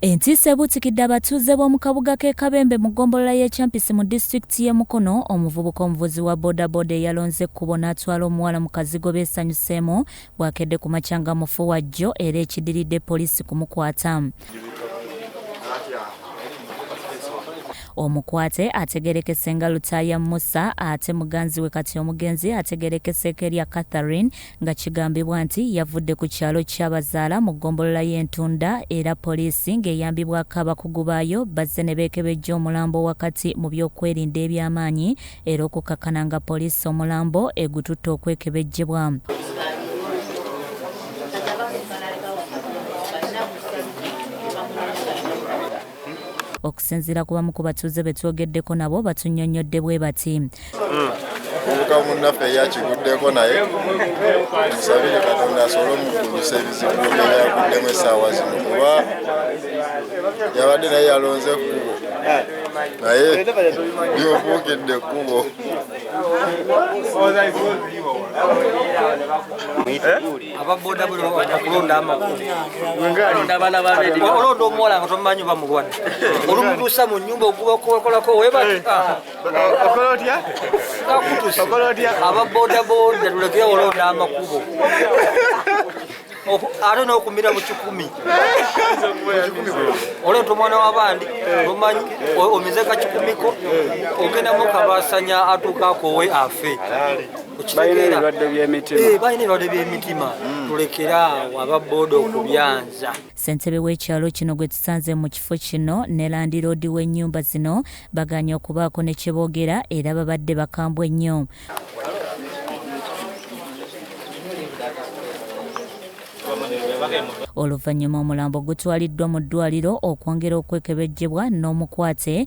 Entiisa ebuutikidde abatuuze b'omu kabuga k'e Kabembe mu ggombolola y'e Kyampisi mu disitulikiti y'e Mukono, omuvubuka omuvuzi wa bodaboda eyalonze ekkubo n'atwala omuwala mu kazigo beesanyuseemu bwakedde ku makya nga mufu wa jjo era ekidiridde poliisi kumukwata. omukwate ategerekese nga lutaaya musa ate muganzi we kati omugenzi ategerekeseeko erya catherine nga kigambibwa nti yavudde ku kyalo Kyabazaala mu ggombolola y'e Ntunda era poliisi ng'eyambibwako abakugu baayo bazze ne beekebejja omulambo wakati mu byokwerinda eby'amaanyi era okukakkana nga poliisi omulambo egututte okwekebejjebwa. Okusinziira ku bamu ku batuuze be twogeddeko nabo batunnyonnyodde bwe bati. omuvubuka munnaffe ye akiguddeko naye musabire katonda asobole omugumisa ebizibu byeyaguddemu essaawa zino kuba yabadde naye yalonze ekkubo naye byobuukidde ekkubo ababoda buli okulonda amakulu olonda omuwala nga tomumanyi oba mulwadde olumutuusa mu nyumba ogubakukolako webakutusa ababodaboda tulekere olonda amakubo ate nokumira mukikumi oleta omwana wabandi omanyi omizeka kikumiko ogendamu kabasanya atuuka akowe afe balina ebirwadde by'emitima eh, balina ebirwadde by'emitima hmm. tulekere awo ababooda okubyanza ssentebe w'ekyalo kino gwe tusanze mu kifo kino ne landiroodi w'ennyumba zino baganye okubaako ne kye boogera era babadde bakambwe nnyo oluvannyuma omulambo gutwaliddwa mu ddwaliro okwongera okwekebejjebwa n'omukwate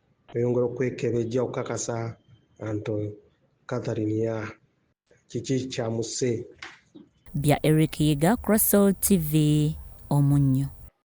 Oyongera okwekebejja okukakasa anto Catherine ya kiki kyamusse. Bya Eric Yiga Crossall TV Omunnyo.